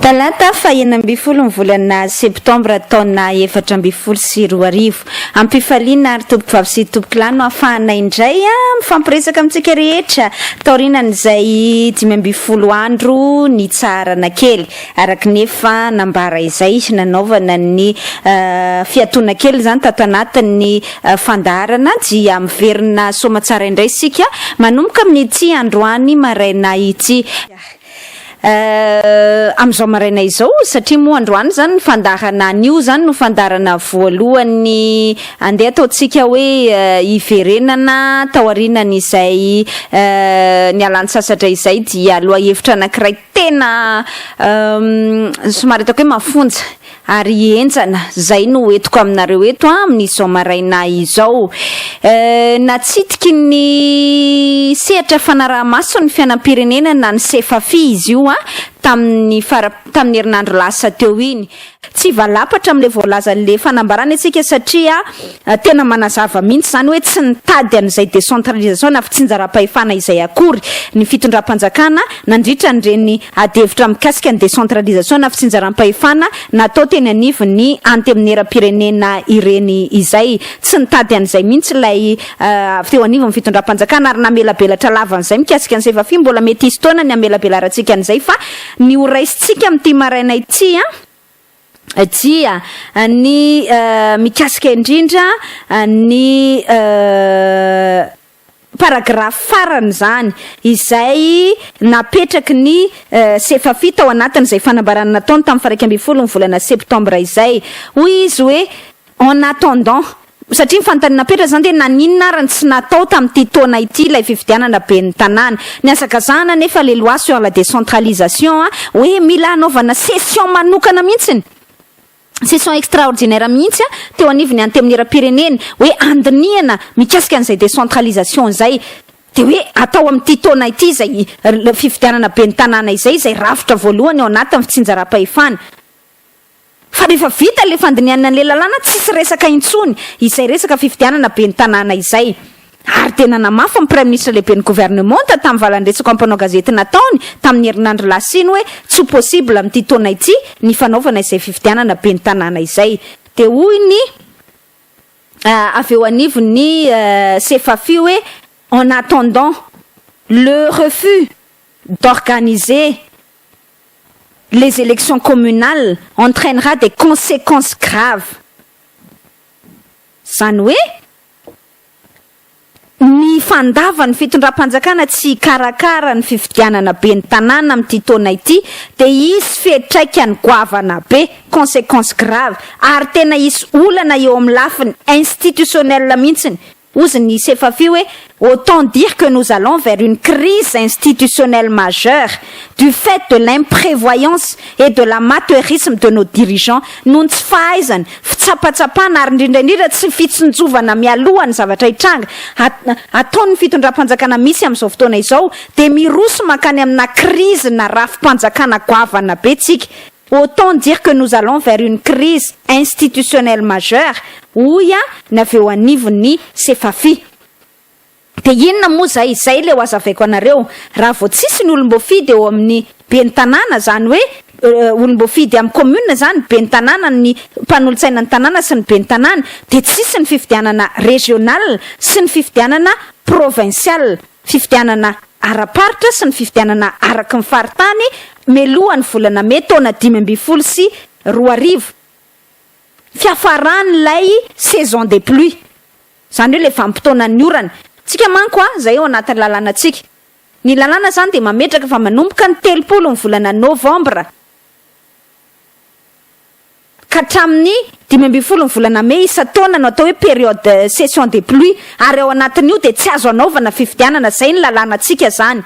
Talata fahenina ambin'ny folo ny volana septambra taona efatra ambin'ny folo sy roa arivo. Ampifaliana ary tompokovavy sy tompokilahy no afahana indray mifampiresaka amintsika rehetra taorianan'izay dimy ambin'ny folo andro nitsaharana kely. Araka ny efa nambara izay, nanaovana ny fiatoana kely izany tato anatin'ny fandaharana dia miverina soamatsara indray isika manomboka amin'ity androany maraina ity. Amin'izao maraina izao, satria moa androany izany ny fandaharana anio izany no fandaharana voalohany andeha ataontsika hoe hiverenana taorianan'izay nialan-tsasatra izay dia lohahevitra anankiray Tena somary ataoko hoe mafonja ary henjana izay no entiko aminareo eto amin'izao maraina izao. Natsitiky ny sehatra fanaraha-maso ny fiainam-pirenena na ny Sefafi izy io tamin'ny fara, tamin'ny herinandro lasa teo iny. Tsy hivalapatra amin'ilay voalazan'ilay fanambarana isika satria tena manazava mihitsy izany hoe tsy nitady an'izay décentralisation na fitsinjaram-pahefana izay akory ny fitondram-panjakana nandritra an'ireny adihevitra mikasika ny décentralisation na fitsinjaram-pahefana natao teny anivon'ny Anteminera-pirenena ireny izay. Tsy nitady an'izay mihitsy ilay avy teo anivon'ny fitondram-panjakana ary namelabelatra lava an'izay mikasika ny Sevafi. Mbola mety hisy fotoana ny hamelabelarantsika an'izay fa Ny ho raisintsika amin'ity maraina ity dia ny mikasika indrindra ny paragrafy farany izany izay napetraky ny Sefafi tao anatin'izay fanambarana nataony tamin'ny faraika ambin'ny folo ny volana septambra izay. Hoy izy hoe. En attendant. Satria ny fanontaniana napetraka izany dia naninona ary no tsy natao tamin'ity taona ity ilay fifidianana ben'ny tanàna. Nihazakazahana anefa ilay loi sur la décentralisation hoe mila hanaovana session manokana mihitsy, session extraordinaire mihitsy teo anivon'ny Antenimierampirenena hoe handinihana mikasika an'izay décentralisation izay. Dia hoe atao amin'ity taona ity izay fifidianana ben'ny tanàna izay, izay rafitra voalohany ao anatin'ny fitsinjaram-pahefana. Fa rehefa vita ilay fandinihana an'ilay lalàna, tsisy resaka intsony izay resaka fifidianana ben'ny tanàna izay. Ary dia nanamafy ny Praiminisitra Lehiben'ny Governemanta tamin'ny valan-dresaka mpanao gazety nataony tamin'ny herinandro lasa iny hoe tsy possible amin'ity taona ity ny fanaovana izay fifidianana ben'ny tanàna izay. Dia hoy ny avy eo anivon'ny Sefafi hoe en attendant le refus d'organiser les elections communales entraînera des consequences graves. Izany hoe ny fandavan'ny fitondram-panjakana tsy hikarakara ny fifidianana ben'ny tanàna amin'ity taona ity dia hisy fiatraikany goavana be, consequences graves, ary tena hisy olana eo amin'ny lafiny institutionnelle mihitsy Ozy ny Sefafi hoe autant dire que nous allons vers une crise institutionnelle majeure du fait de l'imprévoyance et de l'amateurisme de nos dirigeants noho ny tsy fahaizana, fitsapatsapana ary indrindra indrindra tsy fitsinjovana mialoha ny zavatra hitranga ataon'ny fitondram-panjakana misy amin'izao fotoana izao dia miroso mankany amina crise-na rafi-panjakana goavana be tsika. Autant dire que nous allons vers une crise institutionnelle majeure, hoy an ny avy eo anivon'ny Sefafi. Dia inona moa izay? Izay ilay ho azavaiko anareo. Raha vao tsisy ny olom-boafidy eo amin'ny ben'ny tanàna, izany hoe olom-boafidy amin'ny commune izany, ben'ny tanàna, ny mpanolotsainan'ny tanàna sy ny ben'ny tanàna, dia tsisy ny fifidianana régional sy ny fifidianana provincial. fifidianana ara-paritra sy ny fifidianana araky ny faritany mialoha ny volana mey taona dimy ambin'ny folo sy roa arivo, fiafaran'ilay saison des pluies, izany hoe ilay vanim-potoanan'ny orana. Tsika manko a, izay ao anatin'ny lalànantsika. Ny lalàna izany dia mametraka fa manomboka ny telopolo ny volana novambra. ka hatramin'ny dimy ambin'ny folo ny volana mey isan-taona no atao hoe période session des pluies ary ao anatin'io dia tsy azo anaovana fifidianana, izay ny lalànantsika izany.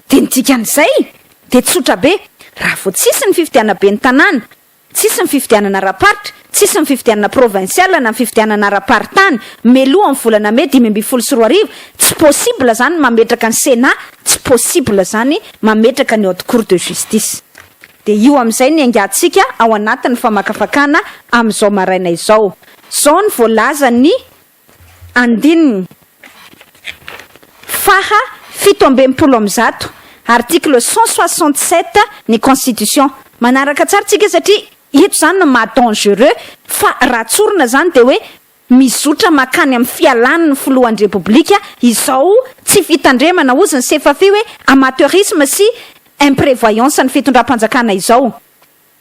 Dia ny dikan'izay dia tsotra be, raha vao tsisy ny fifidianam-ben'ny tanàna Tsisy ny fifidianana ara-paritra, tsisy ny fifidianana provinsiala na ny fifidianana ara-paritany meloha ny volana mey dimy ambin'ny folo sy roa arivo, tsy possible zany mametraka ny Sénat, tsy possible zany mametraka ny Haute Cour de Justice. Dia io amin'izay ny aingantsika ao anatin'ny famakafakana amin'izao maraina izao. Zao ny voalazan'ny Andininy faha fito ambin'ny polo amby zato, article cent soixante sept, ny constitution. Manaraka tsara tsika satria eto izany no maha dangereux fa raha tsorina izany dia hoe mizotra makany amin'ny fialany ny filohan'ny repoblika izao tsy fitandremana ozy ny sefafi hoe amateurisme sy imprevoyance ny fitondram-panjakana izao.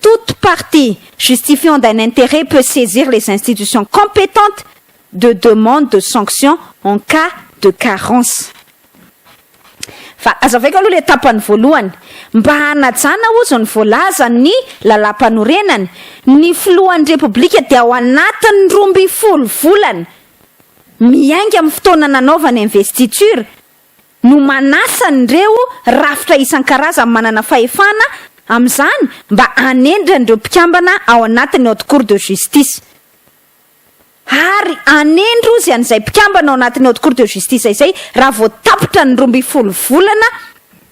Toute partie justifiant d'un intérêt peut saisir les institutions compétentes de demande de sanction en cas de carence. Fa hazavaiko aloha ilay tapany voalohany. Mba hanajana hozy ny voalazan'ny Lalàmpanorenana, ny Filohan'ny Repoblika dia ao anatin'ny roa ambin'ny folo volana miainga amin'ny fotoana nanaovany investiture no manasa an'ireo rafitra isan-karazany manana fahefana amin'izany mba hanendry an'ireo mpikambana ao anatin'ny Haute Cour de Justice ary hanendry ozy an'izay mpikambana ao anatin'ny Haute Cour de Justice izay raha vao tapitra ny roa ambin'ny folo volana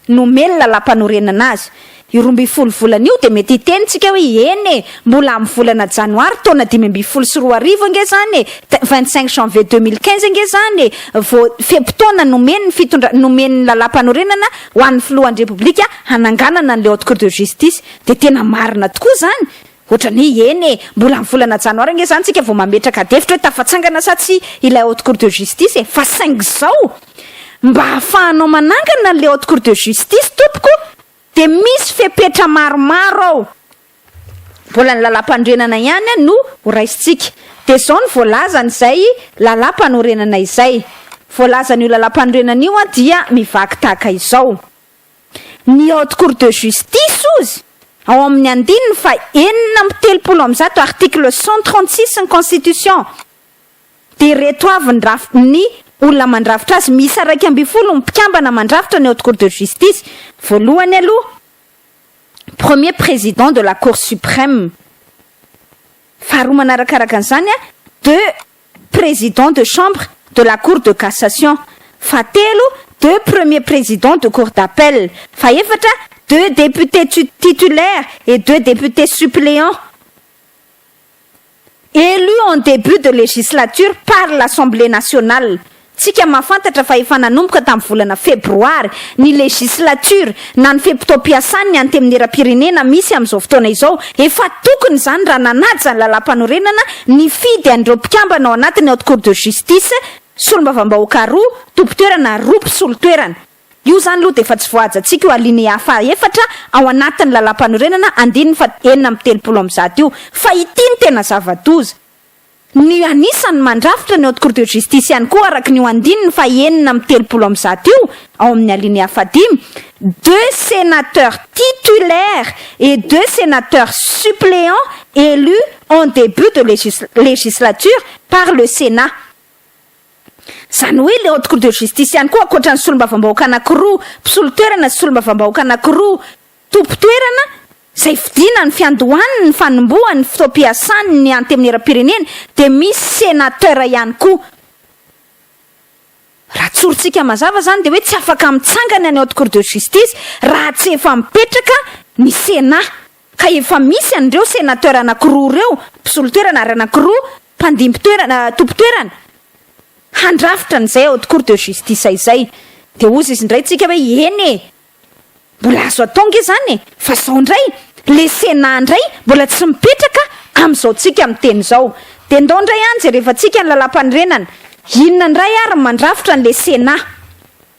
nomeny lalàmpanorenana azy. Io roa ambin'ny folo volana io dia mety hiteny tsika hoe eny e! mbola amin'ny volana janoary taona dimy ambin'ny folo sy roa arivo ange zany e! vingt cinq janvier deux mille quinze ange zany e! vao fe-potoana nomen'ny fitondra, nomen'ny lalàmpanorenana ho an'ny filohan'ny repoblika hananganana an'ilay haute cour de justice dia tena marina tokoa zany ohatrany hoe eny e! mbola amin'ny volana janoary ange zany tsika vao mametraka adihevitra hoe tafatsangana sa tsia ilay haute cour de justice e! fa saingy zao mba ahafahanao manangana an'ilay haute cour de justice tompoko Dia misy fepetra maromaro ao, mbola ny lalàmpanorenana ihany no ho raisintsika. Dia izao no voalazan'izay lalàmpanorenana izay. Voalazan'io lalàmpanorenana io dia mivaky tahaka izao, Ny Haute Cour de Justice, hozy, ao amin'ny andininy faha enina amby telopolo amin'ny zato, article cent trente six, ny Constitution, Dia ireto avy ny raf ny olona mandrafitra azy, miisa iraika ambin'ny folo ny mpikambana mandrafitra ny Haute Cour de Justice, voalohany aloha, Premier Président de la Cour Suprême, faharoa manarakaraka an'izany, deux Présidents de Chambre de la Cour de Cassation, fahatelo, deux Premiers Présidents de Cour d'Appel, fahefatra, deux Députés Titulaires et deux Députés Suppléants. Élu en début de législature par l'Assemblée nationale, tsika mahafantatra fa efa nanomboka tamin'ny volana febroary ny législature na ny fe-potoam-piasan'ny Antenimieram-pirenena misy amin'izao fotoana izao, efa tokony izany raha nanaja ny Lalàmpanorenana nifidy an'ireo mpikambana ao anatiny Haute Cour de Justice, Solombavambahoaka roa, Tompon-toerana roa, Mpisolo toerana. Io izany aloha dia efa tsy voahajantsika io alinéa faha efatra ao anatin'ny Lalàmpanorenana andininy faha enina amby telopolo amby zato io. Fa ity no tena zava-doza. Ny anisan'ny mandrafitra ny Haute Cour de Justice ihany koa araka an'io andininy faha enina amby telopolo amby zato io ao amin'ny alinéa faha dimy, deux sénateurs titulaires et deux sénateurs suppléants élus en début de législature par le Sénat. Izany hoe ilay haute cour de justice ihany koa ankoatra ny solombavambahoaka anankiroa mpisolo toerana sy solombavambahoaka anankiroa tompon-toerana izay fidina ny fiandohany ny fanombohany ny fotoam-piasany ny antemieram-pirenena dia misy senateur ihany koa raha tsorintsika mazava izany dia hoe tsy afaka mitsangana ny haute cour de justice raha tsy efa mipetraka ny senat ka efa misy an'ireo Sénateur anankiroa ireo, mpisolo toerana ary anankiroa mpandimby toerana, tompo toerana, handrafitra an'izay Haute Cour de Justice izay. Dia hozy izy indray tsika hoe eny e! mbola azo atao ange izany e! fa izao indray le Sénat indray mbola tsy mipetraka amin'izao tsika miteny izao. Dia ndao indray any jerevantsika ny Lalam-panorenana, inona indray ary ny mandrafitra an'le Sénat?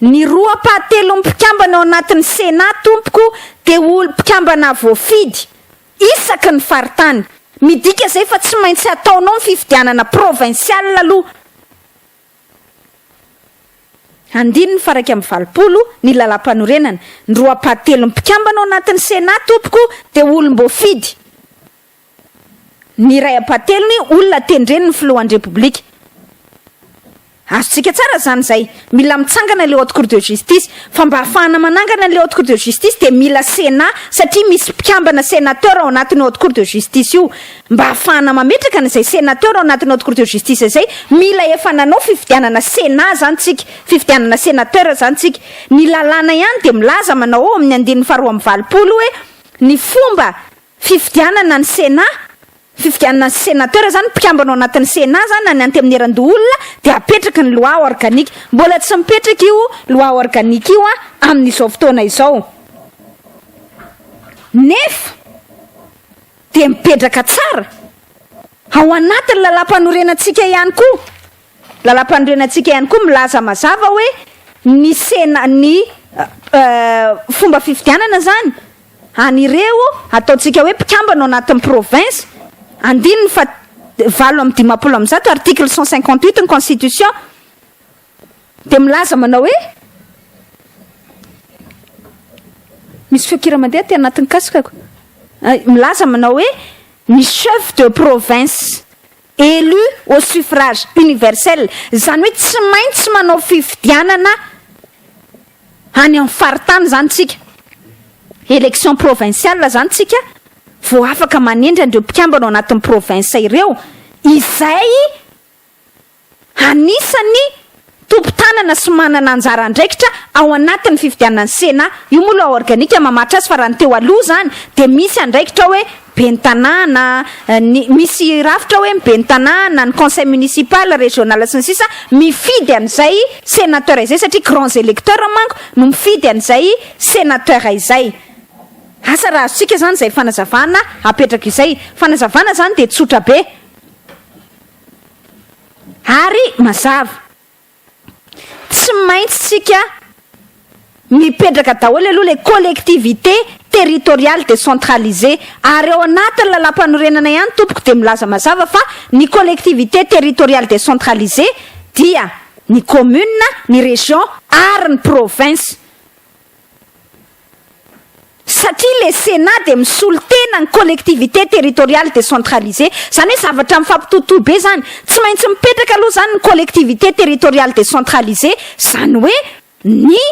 Ny roa ampahatelon'ny mpikambana ao anatin'ny Sénat tompoko dia olo mpikambana voafidy isaky ny faritany. Midika izay fa tsy maintsy hataonao ny fifidianana provinsialy aloha. Andininy faha iraika amby valopolo ny lalampanorenana. Ny roa ampahatelon'ny mpikambana ao anatin'ny Sénat tompoko dia olom-boafidy. ny iray ampahatelony olona tendren'ny filohan'ny Repoblika. Azontsika tsara izany izay. Mila mitsangana ilay Haute Cour de Justice. Fa mba hahafahana manangana an'ilay Haute Cour de Justice dia mila Sénat satria misy mpikambana Sénateur ao anatin'io Haute Cour de Justice io. Mba hahafahana mametraka an'izay Sénateur ao anatin'ny Haute Cour de Justice izay, mila efa nanao fifidianana Sénat izany tsika, fifidianana Sénateur izany tsika. Ny lalàna ihany dia milaza manao ao amin'ny andininy faharoa amby valopolo hoe ny fomba Fifidianana ny Sénat, fifidianana ny Sénateur zany, mpikambana ao anatin'ny Sénat zany na ny Antemierandoholona dia apetraky ny loi organique. Mbola tsy mipetraka io loi organique io amin'izao fotoana izao. Nefa dia mipetraka tsara ao anatin'ny lalampanorenantsika ihany koa. Lalampanorenantsika ihany koa milaza mazava hoe ny sena ny fomba fifidianana izany an'ireo ataontsika hoe mpikambana ao anatin'ny province, andininy fa valo amby dimampolo amby zato, article cent cinquante huit ny constitution dia milaza manao hoe misy feon-kira mandeha aty anatin'ny kasikako, milaza manao hoe ny chef de province. élu au suffrage universel, izany hoe tsy maintsy manao fifidianana any amin'ny faritany izany isika, élection provinciale izany isika, vao afaka manendry an'ireo mpikambana ao anatin'ny province ireo, izay anisany. tompon-tanana sy manana anjara andraikitra ao anatin'ny fifidianan'ny Sénat, io moa loi organique mamaritra azy fa raha ny teo aloha izany dia misy andraikitra hoe ben'ny tanàna, ny misy rafitra hoe ny ben'ny tanàna, ny conseil municipal, régional sy ny sisa mifidy an'izay sénateur izay satria grands électeurs manko no mifidy an'izay sénateur izay. Asa raha azontsika izany izay fanazavana apetraka izay. Fanazavana izany dia tsotra be. Ary mazava. Tsy maintsy tsika mipetraka daholo aloha ilay collectivité territoriale décentralisée. Ary ao anatin'ny Lalàmpanorenana ihany tompoko dia milaza mazava fa ny collectivité territoriale décentralisée dia ny commune, ny région ary ny province. satria le Sénat dia misolo tena ny collectivité territoriale décentralisée, izany hoe zavatra mifampitohitohy be izany, tsy maintsy mipetraka aloha izany ny collectivité territoriale décentralisée, izany hoe ny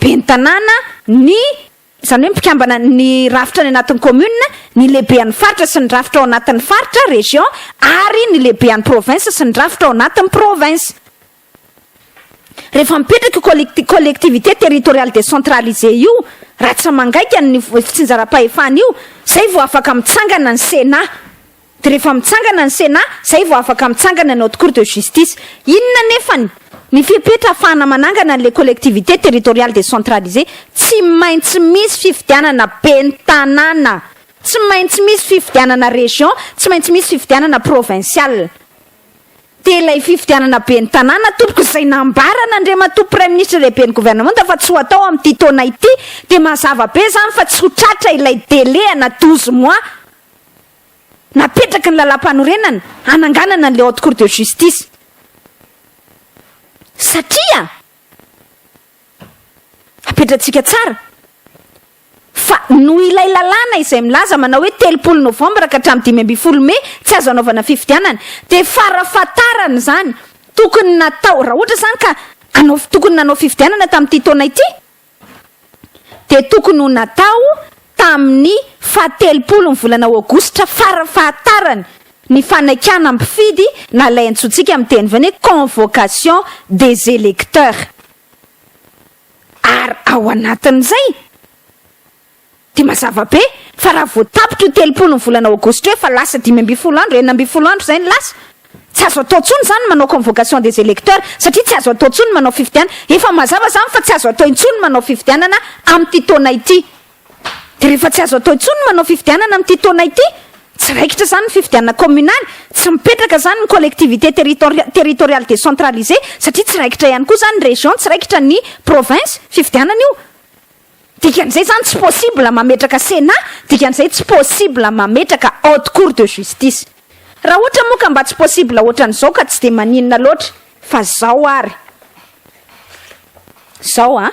ben'ny tanàna, ny, izany hoe mpikambana ny rafitra any anatin'ny commune, ny lehibean'ny faritra sy ny rafitra ao anatin'ny faritra, région, ary ny lehibean'ny province sy ny rafitra ao anatin'ny province. Rehefa mipetraka io collect- collectivité territoriale décentralisée io, raha tsy mangaika ny f- fitsinjaram-pahefana io, izay vao afaka mitsangana ny Sénat. Dia rehefa mitsangana ny Sénat, izay vao afaka mitsangana ny Haute Cour de Justice. Inona anefany? Ny fepetra ahafahana manangana an'ilay collectivité territoriale décentralisée, tsy maintsy misy fifidianana ben'ny tanàna, tsy maintsy misy fifidianana région, tsy maintsy misy fifidianana provinciale. Dia ilay fifidianana ben'ny tanàna tompoko izay nambaran' Andriamatoa Praiminisitra Lehiben'ny Governemanta fa tsy ho atao amin'ity taona ity dia mazava be izany fa tsy ho tratra ilay délai ana douze mois napetraky ny Lalàmpanorenana hananganana an'ilay Haute Cour de Justice satria apetratsika tsara Fa noho ilay lalàna izay milaza manao hoe telopolo novambra ka hatramin'ny dimy ambin'ny folo mey tsy azo anaovana fifidianana dia farafahatarany izany tokony natao raha ohatra izany ka hanao tokony nanao fifidianana tamin'ity taona ity dia tokony ho natao tamin'ny fahatelopolon'ny volana aogositra farafahatarany ny fanaikana mpifidy na ilay antsointsika amin'ny teny vahiny hoe convocation des électeurs. Ary ao anatin'izay dia mazava be fa raha vao tapitra io telopolo ny volana aogositra io efa lasa dimy ambin'ny folo andro, enina ambin'ny folo andro izay ny lasa. Tsy azo atao intsony izany ny manao convocation des electeurs satria tsy azo atao intsony ny manao fifidianana. Efa mazava izany fa tsy azo atao intsony ny manao fifidianana amin'ity taona ity. Dia rehefa tsy azo atao intsony ny manao fifidianana amin'ity taona ity, tsy raikitra izany ny fifidianana kaominaly, tsy mipetraka izany ny collectivité territori territoriale décentralisée satria tsy raikitra ihany koa izany ny région, tsy raikitra ny province, fifidianana io. Dikan'izay izany tsy possible mametraka Sénat, dikan'izay tsy possible mametraka Haute Cour de Justice. Raha ohatra moa ka mba tsy possible ohatran'izao ka tsy dia maninona loatra fa izao ary izao an!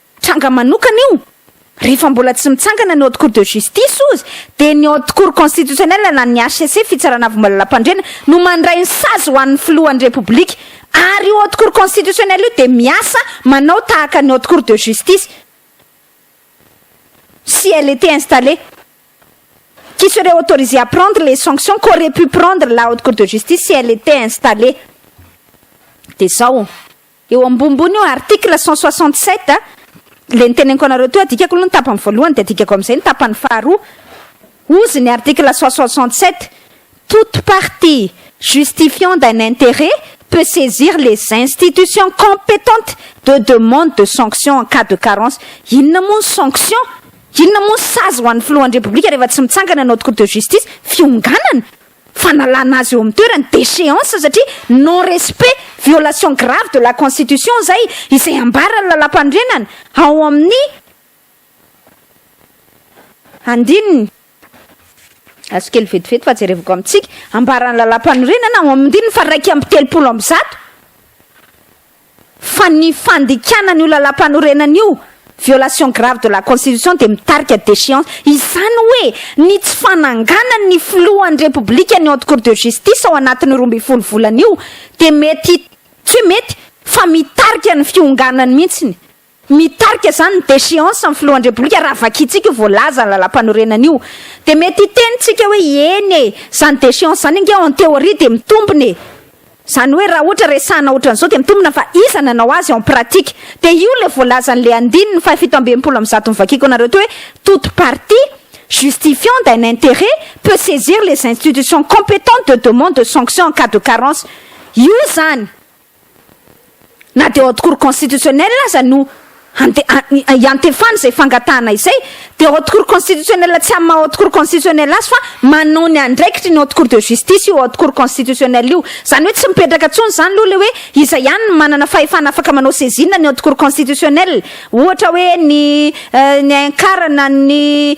tranga manokana io, rehefa mbola tsy mitsangana ny haute cour de justice ozy dia ny haute cour constitutionnelle na ny HCC, fitsarana avo malalampandriana, no mandray ny sazy ho an'ny filohan'ny repoblika, ary io haute cour constitutionnelle io dia miasa manao tahaka ny haute cour de justice si elle etait installée qui serait autorisée à prendre les sanctions qu'aurait pu prendre la haute cour de justice si elle etait installée dia zao. Eo ambombony io article cent soixante sept a, le niteneniko anareo teo, adikako aloha ny tapany voalohany de adikako amizay ny tapany faharoa, ozy ny article cent soixante sept, toute partie justifiant d'un intérêt peut saisir les institutions competentes de demande de sanction en cas de carence, inona moa ny sanction? inona moa ny sazy ho an'ny filohan'ny repoblika rehefa tsy mitsangana ny haute cour de justice? fionganana? fanalana azy eo amin'ny toerany, déchéance, satria non respect, violation grave de la constitution izay, izay ambaran'ny Lalàmpanorenana ao amin'ny andininy, azo kely vetivety fa jerevako amintsika, ambaran'ny Lalàmpanorenana ao amin'ny andininy faha iraika amby telopolo amby zato, fa ny fandikana an'io lalàmpanorenana io violation grave de la constitution dia mitarika déchéance, izany hoe ny tsy fananganan' ny filohan'ny Repoblika ny haute cour de justice ao anatin'ny roa ambin'ny folo volana io dia mety, tsy hoe mety fa mitarika ny fionganany mihitsy ny. Mitarika izany ny déchéance ny filohan-drepoblika raha vakintsika io voalaza ny lalampanorenana io dia mety hiteny tsika hoe eny e! izany déchéance izany ange en théorie dia mitombina e! izany hoe raha ohatra resahina otran'izao dia mitombina fa iza nanao azy en pratique? dia io ilay voalazan'ilay andininy fahafito amby enimpolo amin'ny zato novakiko anareo teo hoe toute partie justifiant d'un intérêt peut saisir les institutions compétentes de demande de sanction en cas de carence io izany Na dia Haute Cour Constitutionnelle aza no hiantefana izay fangatahana izay, dia Haute Cour Constitutionnelle tsy amin'ny maha Haute Cour Constitutionnelle azy fa manao ny andraikitry ny Haute Cour de Justice io Haute Cour Constitutionnelle io. Izany hoe tsy mipetraka intsony izany aloha ilay hoe iza ihany no manana fahefana afaka manao saisine ny Haute Cour Constitutionnelle. Ohatra hoe ny ny ankarana ny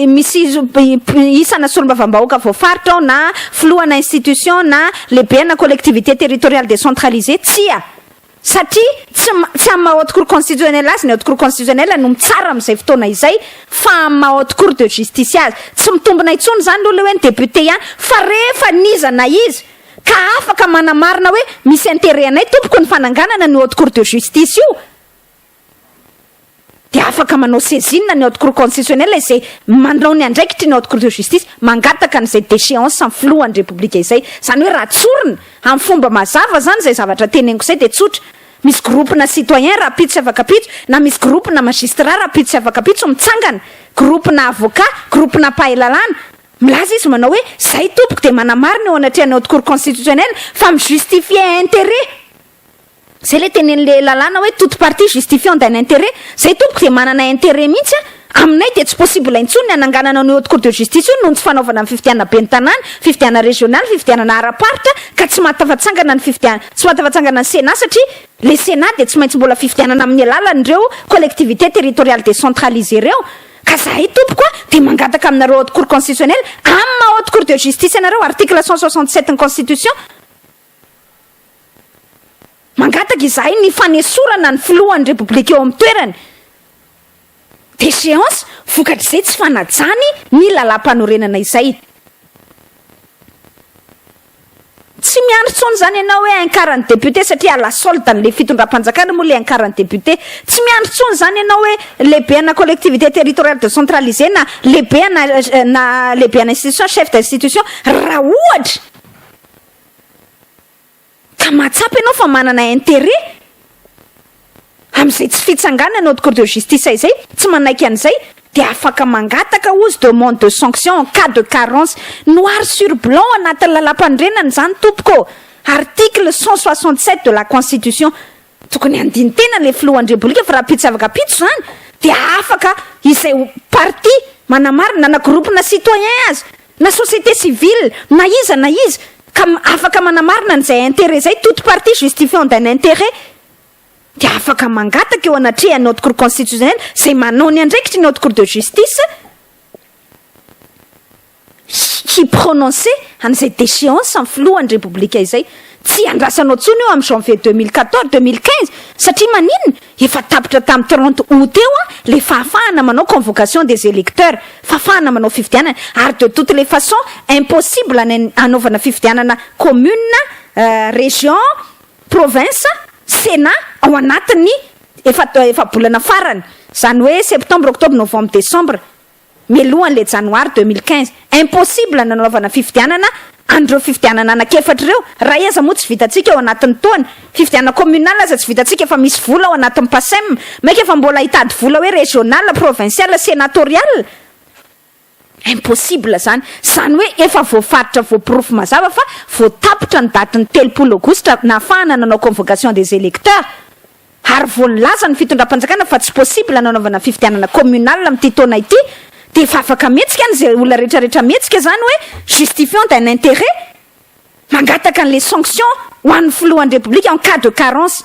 misy isana solombavambahoaka voafaritra ao na filohana institution na lehibena collectivité territoriale décentralisée, tsia! satria tsy tsy amin'ny maha haute cour constitutionnelle azy ny haute cour constitutionnelle no mitsara amin'izay fotoana izay fa amin'ny maha haute cour de justice azy, tsy mitombina intsony izany aloha ilay hoe ny député ihany fa rehefa n'iza na iza ka afaka manamarina hoe misy interet anay tompoko ny fananganana an'io haute cour de justice io dia afaka manao saisine ny haute cour constitutionnelle izay manao ny andraikitry ny haute cour de justice mangataka an'izay déchéance ny filohan'ny repoblika izay, izany hoe raha tsorina amin'ny fomba mazava izany izay zavatra teneniko izay dia tsotra misy groupe na citoyen rahampitso sy afakapitso na misy groupe na magistrat rahampitso sy afakapitso mitsangana groupe na avocat, groupe na mpahay lalàna, Milaza izy manao hoe, Zay tompoko dia manamarina eo anatrehan'ny haute cour constitutionnelle fa mi justifier interet. Zay le tenenin'le lalàna hoe toute partie justifiant d'un interet. Zay tompoko dia manana interet mihitsy an! Aminay dia tsy possible intsony ny hananganana an'io haute cour de justice io noho ny tsy fanaovana ny fifidianana ben'ny tanàna, fifidianana régional, fifidianana ara-paritra ka tsy mahatafatsangana ny fifidian tsy mahatafatsangana ny Sénat satria le Sénat dia tsy maintsy mbola fifidianana amin'ny alalan'ireo collectivités territoriales décentralisées ireo. Ka zahay tompoko a dia mangataka aminareo haute cour constitutionnelle amin'ny maha haute cour de justice anareo article cent soixante sept ny constitution mangataka izahay ny fanesorana ny filohan'ny repoblika eo amin'ny toerany déchéance vokatr'izay tsy fanajany ny lalàmpanorenana izay. Tsy miandry tsony zany ianao hoe incar ny député satria à la solde an'le fitondram-panjakana moa le incar ny député. Tsy miandry tsony zany ianao hoe lehibe ana collectivité territoriale décentralisée na lehibe ana na lehibe ana institution, chef d'institution, raha ohatra ka mahatsapa ianao fa manana intérêt. Amin'izay tsy fitsanganana haute cour de justice izay tsy manaiky an'izay dia afaka mangataka ozy demande de sanction en cas de carence. Noir sur blanc anatin'ny lalam-panorenana izany tompoko ô! Article cent soixante sept de la constitution. Tokony handini-tena ilay filoha Andriambolika fa raha mpitsavaka mpitso izany dia afaka izay parti manamarina na groupe-na citoyen aza na société civile na iza na iza ka afaka manamarina an'izay intérêt izay toute partie justifiant d'un intérêt dia afaka mangataka eo anatrehan' ny Haute Cour Constitutionnelle izay manao ny andraikitry ny Haute Cour de Justice hi-prononcer an'izay déchéance ny Filohan'ny Repoblika izay. Tsy iandrasanao intsony io amin'ny janvier deux mille quatorze, deux mille quinze satria maninona? Efa tapitra tamin'ny trente aout teo ilay fahafahana manao convocation des électeurs, fahafahana manao fifidianana, ary de toutes les façons impossible ny hanaovana fifidianana commune, région, Province, Sénat, ao anatin'ny efatra efa-bolana farany, izany hoe Septembre, Octobre, Novembre, Décembre, mialohan'ilay Janoary deux mille quinze. Impossible ny nanaovana fifidianana an'ireo fifidianana anankiefatra ireo, iray aza moa tsy vitantsika ao anatin'ny taona. Fifidianana communal aza tsy vitantsika efa misy vola ao anatin'ny PACEM, mainka efa mbola hitady vola hoe régional, provincial, sénatorial? Impossible zany, zany hoe efa voafaritra voaporofo mazava fa voatapitra ny daty ny telopolo aogositra nahafahana nanao convocation des electeurs ary vao nilaza ny fitondram-panjakana fa tsy possible ny hanaovana fifidianana communal amin'ity taona ity dia efa afaka mihetsika any izay olona rehetrarehetra mihetsika zany hoe justifiant d'un interet mangataka an'ilay sanction ho an'ny filohan'ny repoblika en cas de carence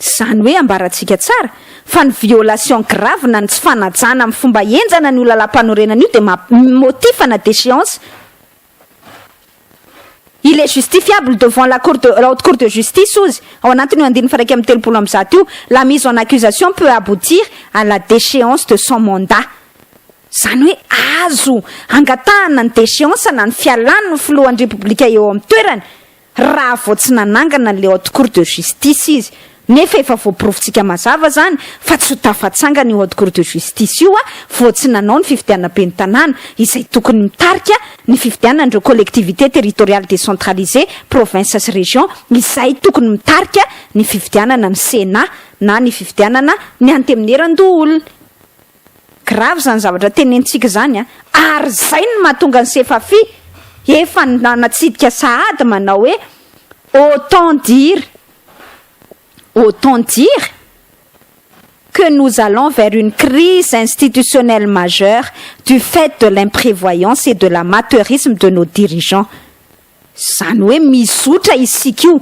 Izany hoe ambarantsika tsara fa ny violation grave na ny tsy fanajana amin'ny fomba henjana an'io lalàmpanorenana io dia maha motif na déchéance il est justifiable devant la cour de la haute cour de justice ozy ao anatin'io andininy faha iraika amby telopolo amby zato io la mise en accusation peut aboutir à la déchéance de son mandat Izany hoe azo angatahana ny déchéance na ny fialany ny filohan'ny Repoblika eo amin'ny toerany raha vao tsy nanangana an'ilay Haute Cour de Justice izy. Nefa efa voaporofontsika mazava izany fa tsy ho tafatsangana io Haute Cour de Justice io vao tsy nanao ny fifidianana ben'ny tanàna izay tokony mitarika ny fifidianan'ireo collectivités territoriales décentralisées, provinces sy régions, izay tokony mitarika ny fifidianana ny Sénat na ny fifidianana ny Antemierandoholona. Grave zany zavatra tenenintsika zany a! Ary zay no mahatonga an'i Sefafi efa nanatsidika sahady manao hoe autant dire autant dire que nous allons vers une crise institutionnelle majeure du fait de l'imprévoyance et de l'amateurisme de nos dirigeants. Izany hoe mizotra isika io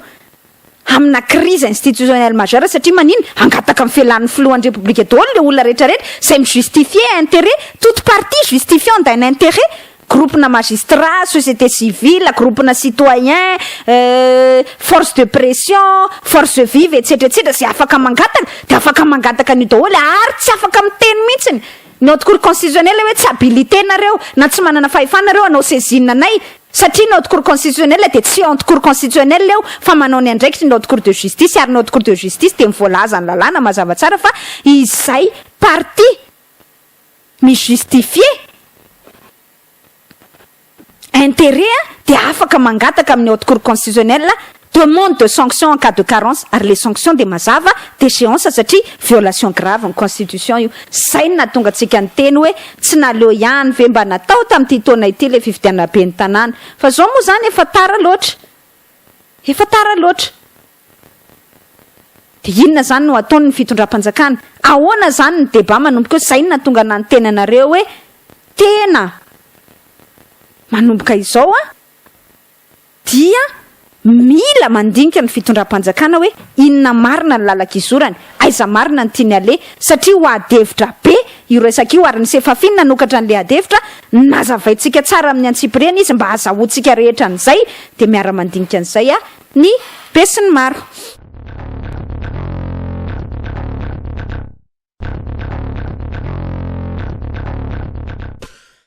amina crise institutionnelle majeure satria manina? Hangataka ny felan'ny filohan'ny Repoblika daholo ilay olona rehetra rehetra izay mi justifier interet, toute partie justifiant d'un interet, gropona magistrats, société civile, gropona citoyen, force de pression, force vive etsetra etsetra izay afaka mangataka dia afaka mangataka an'io daholo ary tsy afaka miteny mihitsiny ny haute cour constitutionnelle hoe tsy habilite nareo na tsy manana fahefana nareo hanao saisine anay Satria ny Haute Cour Constitutionnelle dia tsy Haute Cour Constitutionnelle eo fa manao ny andraikitry ny Haute Cour de Justice ary ny Haute Cour de Justice dia ny voalazan'ny lalàna mazava tsara fa izay partie mi-justifier intérêt dia afaka mangataka amin'ny Haute Cour Constitutionnelle Demande de sanction en cas de carence, ary le sanction dia mazava, déchéance satria violation grave ny constitution io. Zay no nahatonga antsika niteny hoe tsy naleo ihany ve mba natao tamin'ity taona ity le fifidianana ben'ny tanàna fa zao moa zany efa tara loatra, efa tara loatra. Dia inona zany no ataony ny fitondram-panjakana? Ahoana zany ny débat manomboka eo? Zay no nahatonga anah niteny anareo hoe tena manomboka izao an! dia mila mandinika ny fitondram-panjakana hoe inona marina ny lalan-kizorany, aiza marina ny tiany haleha, satria ho adihevitra be io resaka io ary ny Sefafin nanokatra an'ilay adihevitra, nazavaintsika tsara amin'ny antsipiriany izy mba hazahoantsika rehetra an'izay, dia miara-mandinika an'izay ny besinimaro.